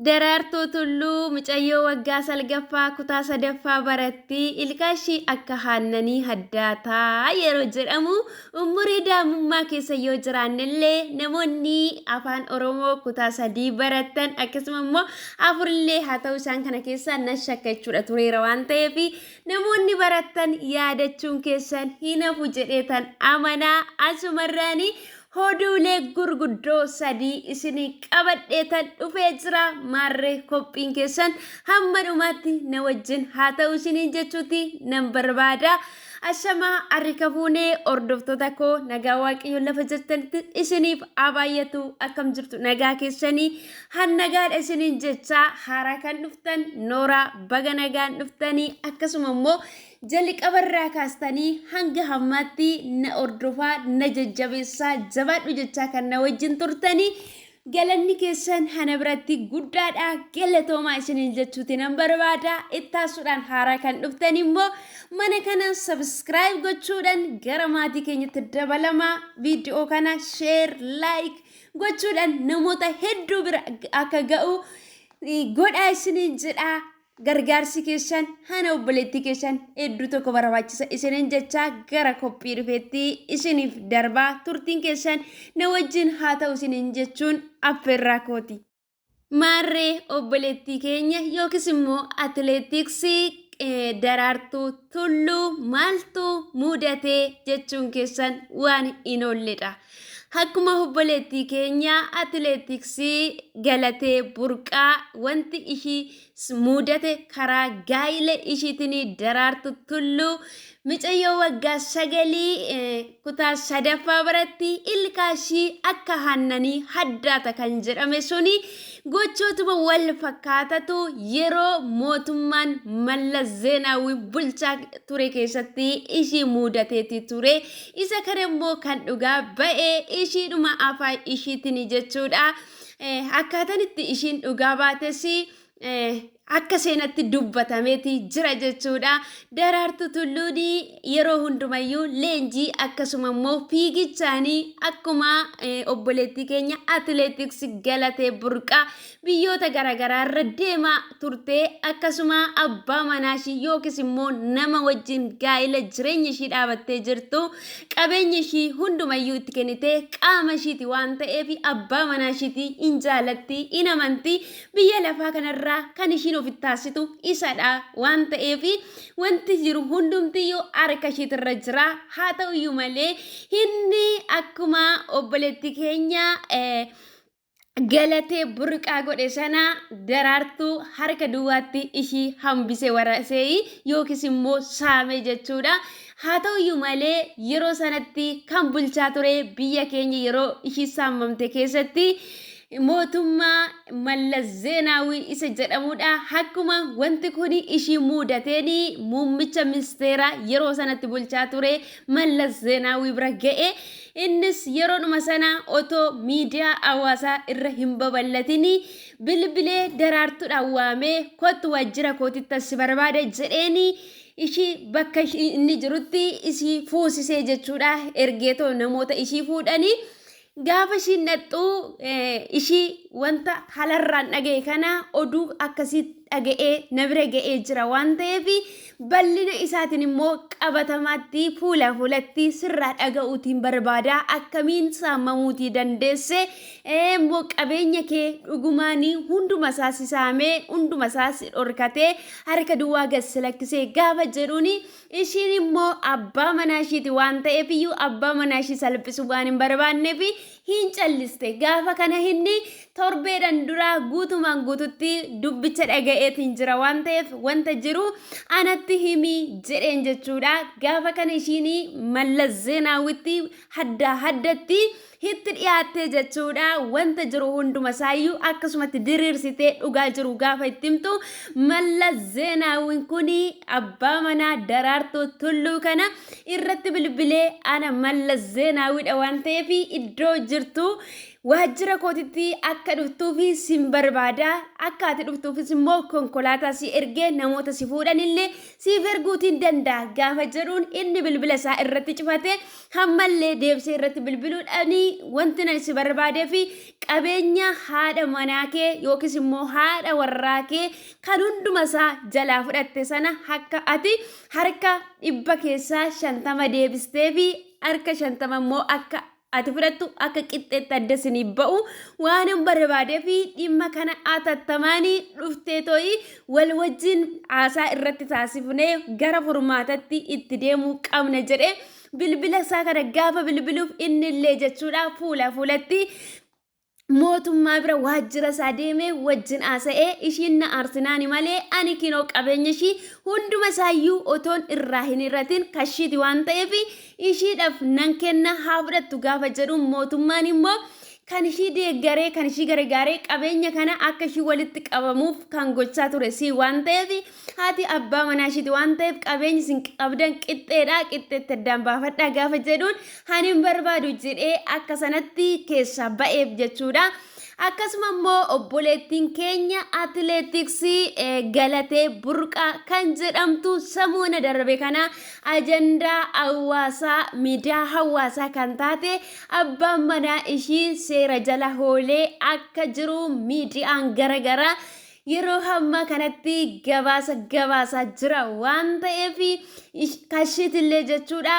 Daraartuu Tulluu mucayyoo waggaa salgaffaa kutaa sadaffaa baratti ilkaan ishii akka haannanii haddaataa yeroo jedhamu umurii daa'imummaa keessa yoo jiraannellee namoonni afaan Oromoo kutaa sadii baratan akkasuma immoo afurillee haa ta'u isaan kana keessaa nan shakka jechuudha tureera waan ta'eef namoonni baratan yaadachuun keessan hin hafu jedheetan amanaa asumarraanii Hoduulee gurguddoo sadii isinii qabadheetan dhufee jira maarree kophiin keessan hamma dhumaatti na wajjin haa ta'u isiniin jechuuti nan barbaada. Ashamaa harika fuunee hordoftoota koo nagaa waaqayyoon lafa jirtanitti isiniif haa baay'atu akkam jirtu nagaa keessanii hannagaadha isiniin jechaa haaraa kan dhuftan nooraa baga nagaan dhuftanii akkasuma immoo Jaliqabarraa kaastanii hanga hammaatti na ordofaa na jajjabeessaa jabaadhu jechaa kan na wajjin turtanii galanni keessan hana biratti guddaadha galatoomaa isiniin jechuuti nan barbaada ittaasuudhaan haaraa kan dhuftan immoo mana kana sabiskiraayib gochuudhaan gara maatii keenyatti dabalamaa viidiyoo kana sheer laayik gochuudhaan namoota hedduu bira akka ga'u godhaa isiniin jedhaa Gargaarsi keessan hana obboleettii keessan hedduu tokko barbaachisa isiniin jechaa gara qophii dhufeetti isiniif darbaa turtiin keessan na wajjin haa ta'u isiniin jechuun affeerraa kooti. Maarree obboleettii keenya yookiis immoo atileetiksii eh, daraartuu tulluu maaltu mudatee jechuun keessan waan hin oolledha. Akkuma obboleettii keenya atileetiksii galatee burqaa wanti ishii s- muudate karaa gaa'ila ishiitinii daraartu tulluu micayyoo waggaa sagalii eh, kutaa sadaffaa baratti ilkaa ishii akka haannanii haddaata kan jedhame suni gochootuma wal fakkaatatu yeroo mootummaan Mallas Zeenaawwi bulchaa ture keessatti ishii muudateeti ture Isa kana immoo kan dhugaa ba'e ishiidhuma afaan ishiitini jechuudha. Eh, Akkaataan itti ishiin dhugaa baates eh, akka seenatti dubbatameeti jira jechuudha. Daraartu Tulluun yeroo hundumayyuu leenjii akkasuma immoo fiigichaanii akkuma eh, obboleettii keenya atileetiks galatee burqaa biyyoota garaagaraa irra deemaa turtee akkasuma abbaa manaa ishii yookiis immoo nama wajjin gaa'ila jireenya ishii dhaabattee jirtu qabeenya ishii hundumayyuu itti kennitee qaama ishiiti waan ta'eef abbaa manaa ishiiti in jaalatti in amanti biyya lafaa kanarraa kan ishiin ofitti taasitu isadha waan ta'eef wanti jiru hundumtiyyuu harka ishiitirra jira haa ta'uyyuu malee inni akkuma obboleetti keenya eh, galatee burqaa godhe sana daraartuu harka duwwaatti ishii hambise waraseeyi yookiis immoo saame jechuudha. Haa ta'uyyuu malee yeroo sanatti kan bulchaa ture biyya keenya yeroo ishii saamamte keessatti mootummaa Mallas Zeenaawii isa jedhamudha. Akkuma wanti kun ishii muudateen muummicha ministeeraa yeroo sanatti bulchaa ture Mallas Zeenaawii bira ga'e. Innis yeroodhuma sana otoo miidiyaa hawaasaa irra hin babal'atinii bilbilee Daraartuudhaan waamee kottu waajjira kootittan si barbaada jedheeni ishii bakka ishii inni jirutti ishii fuusisee jechuudha ergeetoo namoota ishii fuudhanii gaafa ishiin dhaqxuu eh, ishii wanta halarraan dhaga'e kana oduu akkasii dhaga'ee na bira ga'ee jira waan ta'eef Bal'ina isaatiin immoo qabatamaatti fuula fuulatti sirraa dhaga'uutiin barbaada akkamiin saamamuutii dandeesse ee immoo qabeenya kee dhugumaanii hunduma isaa si saamee hunduma isaa si dhorkatee harka duwwaa gad si lakkisee gaafa jedhuuni ishiin immoo abbaa manaa ishiiti waan ta'eef iyyuu abbaa manaa ishii salphisu waan hin barbaanneef hin calliste. Gaafa kana inni torbeedhan dura guutumaan guututti dubbicha dhaga'eetiin jira waan ta'eef wanta jiru anatti himi jedheen jechuudha. Gaafa kana ishiin mallas zeenaawwitti haddaa haddatti hitti dhiyaattee jechuudha. Wanta jiru hunduma isaayyuu akkasumatti diriirsitee dhugaa jiru gaafa itti himtu mallas zeenaawwiin kun abbaa manaa daraartuu tulluu kana irratti bilbilee ana mallas zeenaawidha waan ta'eef iddoo jirtu waajjira kootitti akka dhuftuufi sin barbaada akka ati dhuftuufis immoo konkolaataa si ergee namoota si fuudhanillee siif erguutiin danda'a gaafa jedhuun inni bilbila isaa irratti cufate hammallee deebisee irratti bilbiluudhaan wanti nan si barbaadee fi qabeenya haadha manaa kee yookiis immoo haadha warraa kee kan hunduma isaa jalaa fudhatte sana akka ati harka dhibba keessaa shantama deebistee fi harka shantama immoo akka ati fudhattu akka qixxeetti adda isinii ba'u waanan barbaadee fi dhimma kana atattamaanii dhuftee to'ii wal wajjin haasaa irratti taasifnee gara furmaatatti itti deemuu qabna jedhee bilbila isaa kana gaafa bilbiluuf inni illee jechuudha fuula fuulatti mootummaa bira waajjira isaa deemee wajjin haasa'ee ishiin na aarsinaani malee ani kinoo qabeenya ishii hunduma isaayyuu otoon irraa hin hir'atin kashiiti waan ta'eef ishiidhaaf nan kenna haa fudhattu gaafa jedhuun mootummaan immoo kan ishii deeggaree kan ishii gargaaree qabeenya kana akka ishii walitti qabamuuf kan gochaa ture si waan ta'eef Haati abbaa manaa ishiiti waan ta'eef qabeenyi isin qabdan qixxeedha qixxeetti addaan baafadhaa gaafa jedhuun ani hin barbaadu jedhee akka sanatti keessaa ba'eef jechuudha. Akkasuma immoo obboleettiin keenya atileetiksii eh, galatee burqaa kan jedhamtu samuuna darbe kana ajandaa hawaasaa miidiyaa hawaasaa kan taate abbaan manaa ishii seera jala hoolee akka jiru miidiyaan garagaraa yeroo hammaa kanatti gabaasa gabaasaa jira waan ta'eef kashiitillee jechuudha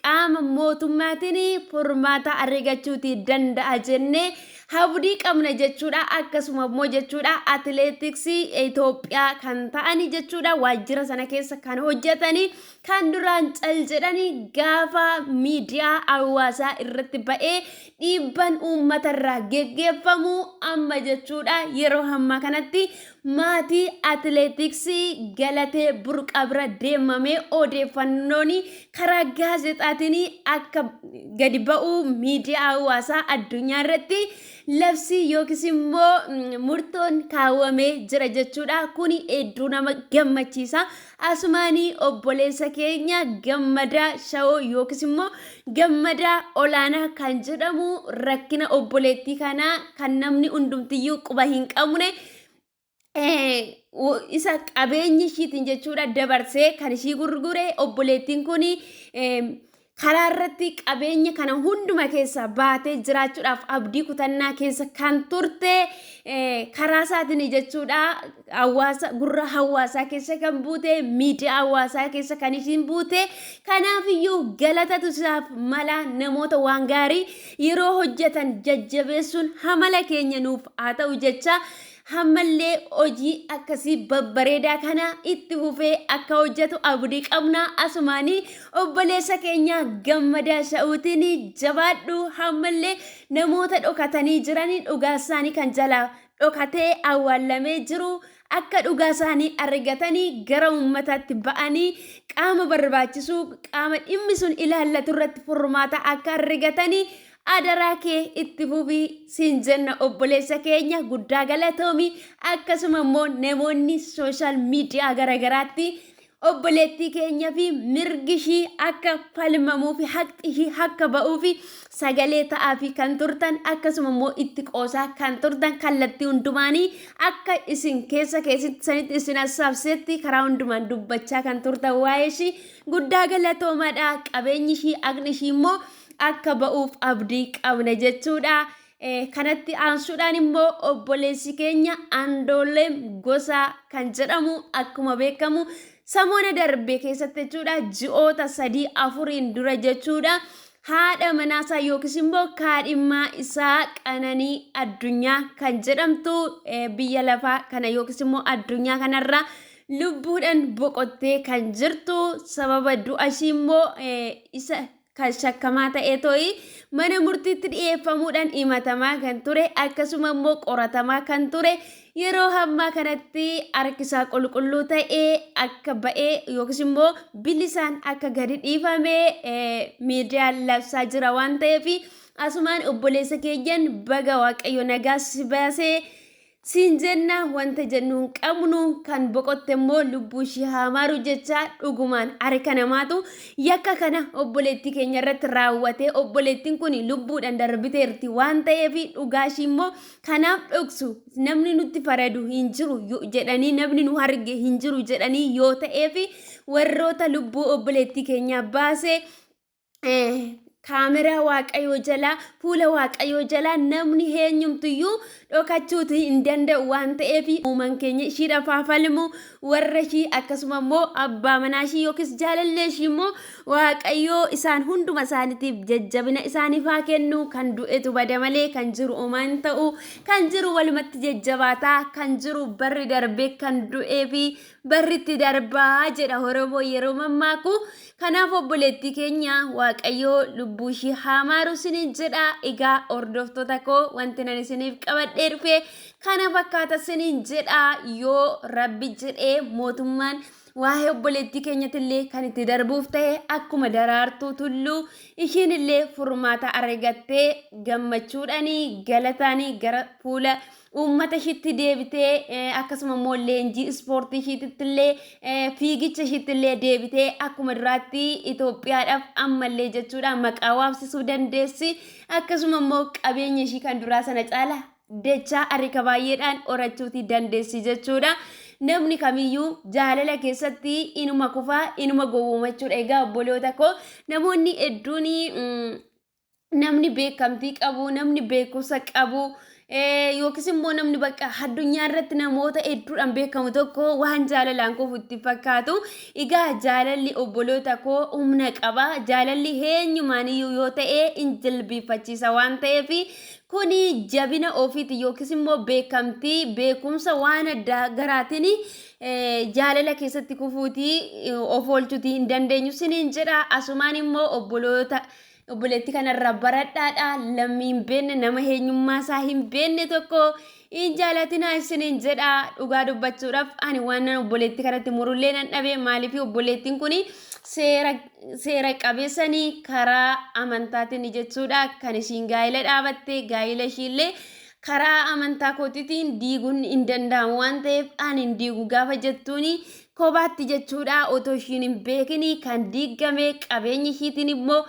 qaama mootummaatiin furmaata argachuuti danda'a jennee habdii qabna jechuudha akkasuma immoo jechuudha atileetiksii Itoophiyaa kan ta'ani jechuudha waajjira sana keessa kan hojjetani kan duraan cal jedhani gaafa miidiyaa hawaasaa irratti ba'ee dhiibban uummata irraa geggeeffamu amma jechuudha yeroo hammaa kanatti maatii atileetiksii Galatee Burqaa bira deemamee odeeffannoon karaa gaazexaatiin akka gadi ba'u miidiyaa hawaasaa addunyaa irratti labsii yookiis immoo mm, murtoon kaawwamee jira jechuudha. Kuni hedduu nama gammachiisa. Asumaani obboleessa keenya Gammadaa Shawoo yookiis immoo Gammadaa Olaanaa kan jedhamu rakkina obboleettii kanaa kan namni hundumtiyyuu quba hin qabne isa qabeenya ishiitiin jechuudha dabarsee kan ishii gurgure obboleettiin kun Karaa irratti qabeenya kana hunduma keessa baatee jiraachuudhaaf abdii kutannaa keessa kan turte karaa isaatiin jechuudha. Hawaasa gurra hawaasaa keessa kan buute miidiyaa hawaasaa keessa kan isiin buute kanaafiyyuu galatatu isaaf mala namoota waan gaarii yeroo hojjetan jajjabeessuun hamala keenya nuuf haa ta'u jecha Hammallee hojii akkasii babbareedaa kana itti fufee akka hojjetu abdii qabna. Asumaan obboleessa keenya gammadaa sha'uutiin jabaadhu hammallee namoota dhokatanii jiran dhugaa isaanii kan jala dhokatee awwaallamee jiru akka dhugaa isaanii argatanii gara uummataatti ba'anii qaama barbaachisu qaama dhimmi sun ilaallatu irratti furmaata akka argatanii Adaraa kee itti fufii siin jenna obboleessa keenya guddaa galatoomi akkasuma immoo namoonni sooshaal miidiyaa garaagaraatti obboleettii keenya fi mirgi ishii akka falmamuu fi haqxi ishii akka ba'uu fi sagalee ta'aa fi kan turtan akkasuma immoo itti qoosaa kan turtan kallattii hundumaanii akka isin keessa keessatti sanitti isin hassaabsetti karaa hundumaan dubbachaa kan turtan waa'ee ishii guddaa galatoomadha qabeenyi ishii aqni ishii immoo akka ba'uuf abdii qabna jechuudha. Kanatti aansuudhaan immoo obboleessi keenya Andooleem Gosaa kan jedhamu akkuma beekamu samoona darbe keessatti jechuudha ji'oota sadii afuriin dura jechuudha haadha manaasaa yookiis immoo kaadhimmaa isaa qananii addunyaa kan jedhamtu biyya lafaa kana yookiis immoo addunyaa kanarraa lubbuudhaan boqottee kan jirtu sababa du'a ishii immoo isa kan shakkamaa ta'e to'ii mana murtiitti dhiyeeffamuudhaan himatamaa kan ture akkasuma immoo qoratamaa kan ture yeroo hammaa kanatti harkisaa qulqulluu ta'e akka ba'e yookiis immoo bilisaan akka gadi dhiifame miidiyaan labsaa jira waan ta'eef asumaan obboleessa keenyan baga waaqayyo nagaa si baasee Siin jenna wanta jennu hin qabnu kan boqotte immoo lubbuu ishii haa maaru jechaa dhugumaan harka namaatu yakka kana obboleettii keenya irratti raawwate obboleettiin kun lubbuudhaan darbiteerti waan ta'eef dhugaa ishii immoo kanaaf dhoksu namni nutti faradu hin jiru yo- jedhanii namni nu arge hin jiru jedhanii yoo ta'eef warroota lubbuu obboleettii keenyaa baase kaameraa waaqayyoo jalaa fuula waaqayyoo jalaa namni eenyumtuyyuu dhokachuuti hin danda'u waan ta'eef uumaan keenya ishiidhaaf haa falmu warra ishii akkasuma immoo abbaa manaa ishii yookiis jaalallee ishii immoo waaqayyoo isaan hunduma isaaniitiif jajjabina isaaniif haa kennu kan du'etu bada malee kan jiru uumaa hin ta'u kan jiru walumatti jajjabaataa kan jiru barri darbee kan du'ee fi barritti darbaa jedha Oromoo yeroo mammaaku. Kanaaf obboleettii keenya Waaqayyoo lubbuu ishii haa maaru isiniin jedha. Egaa hordoftoota koo wanti nan isiniif qabadhee dhufe kana fakkaata isiniin jedha yoo rabbi jedhee mootummaan waa'ee obboleettii keenyatillee kan itti darbuuf ta'e akkuma daraartuu tulluu ishiinillee furmaata argattee gammachuudhaanii galataanii gara fuula. uummata ishiitti deebitee eh, akkasuma immoo leenjii ispoortii ishiititti illee eh, fiigicha ishiitti illee deebitee akkuma duraatti Itoophiyaadhaaf ammallee jechuudha maqaa waamsisuu dandeessi akkasuma immoo qabeenya ishii kan duraa sana caala dachaa harka baay'eedhaan horachuuti dandeessi jechuudha. Namni kamiyyuu jaalala keessatti inuma kufaa inuma gowwoomachuudha egaa obboloota koo namoonni hedduun mm, namni beekamtii qabu, namni beekumsa qabu, eh, yookiis immoo namni bakka addunyaa irratti namoota hedduudhaan beekamu tokko waan jaalalaan kufu itti fakkaatu. Egaa jaalalli obboloota koo humna qaba. Jaalalli eenyumaaniyyuu yoo ta'e in jilbiifachiisa waan ta'eef kuni jabina ofiiti yookiis immoo beekamtii beekumsa waan addaa garaatiin eh, jaalala keessatti kufuutii eh, of oolchuutii hin dandeenyu siniin jedha. Asumaan immoo obboloota Obboleetti kanarraa baradhaadha lammii hin beenne nama eenyummaa isaa hin beenne tokko hin jaalatinaa isiniin jedha dhugaa dubbachuudhaaf ani waan nan obboleetti kanatti murullee nan dhabe maaliif obboleettiin kun seera seera qabeessanii karaa amantaatiin jechuudha kan ishiin gaa'ila dhaabatte gaa'ila ishiillee karaa amantaa kootiitiin diiguun hin danda'amu waan ta'eef ani hin diigu gaafa jettuuni Kophaatti jechuudha otoo ishiin hin beekin kan diiggame qabeenyi ishiitiin immoo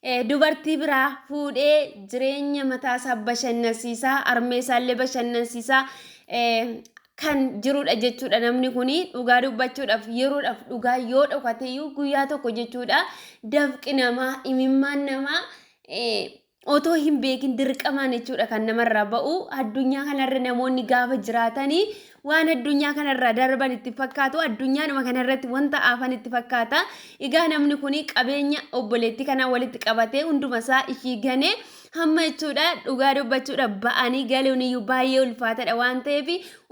eh, dubartii biraa fuudhee jireenya mataasaa bashannansiisaa armeesaallee bashannansiisaa eh, kan jirudha jechuudha namni kun dhugaa dubbachuudhaaf yeroodhaaf dhugaa yoo dhokateeyyuu guyyaa tokko jechuudha dafqi namaa imimmaan namaa eh, otoo hin beekin dirqamaan jechuudha kan namarraa ba'u addunyaa kanarra namoonni gaafa jiraatanii waan addunyaa kanarraa darban itti fakkaatu addunyaadhuma kanarratti wanta afan itti fakkaata egaa namni kun qabeenya obboleettii kanaa walitti qabatee hunduma isaa ishii ganee hamma jechuudha dhugaa dubbachuudha ba'anii galuun iyyuu baay'ee ulfaatadha waan ta'eef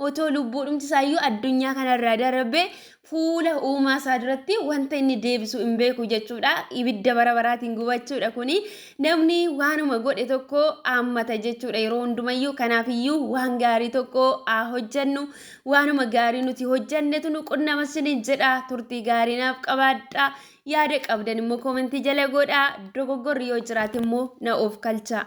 otoo lubbuudhumti isaayyuu addunyaa kanarraa darbee fuula uumaa isaa duratti wanta inni deebisu hin beeku jechuudha. Ibidda bara baraatiin gubachuudha kuni. Namni waanuma godhe tokko aammata jechuudha yeroo hundumayyuu. Kanaafiyyuu waan gaarii tokko haa hojjannu. Waanuma gaarii nuti hojjannetu nu qunnama isiniin jedha. Turtii gaarii naaf qabaadha. Yaada qabdan immoo koomentii jala godha. Dogoggorri yoo jiraate immoo na of kalcha.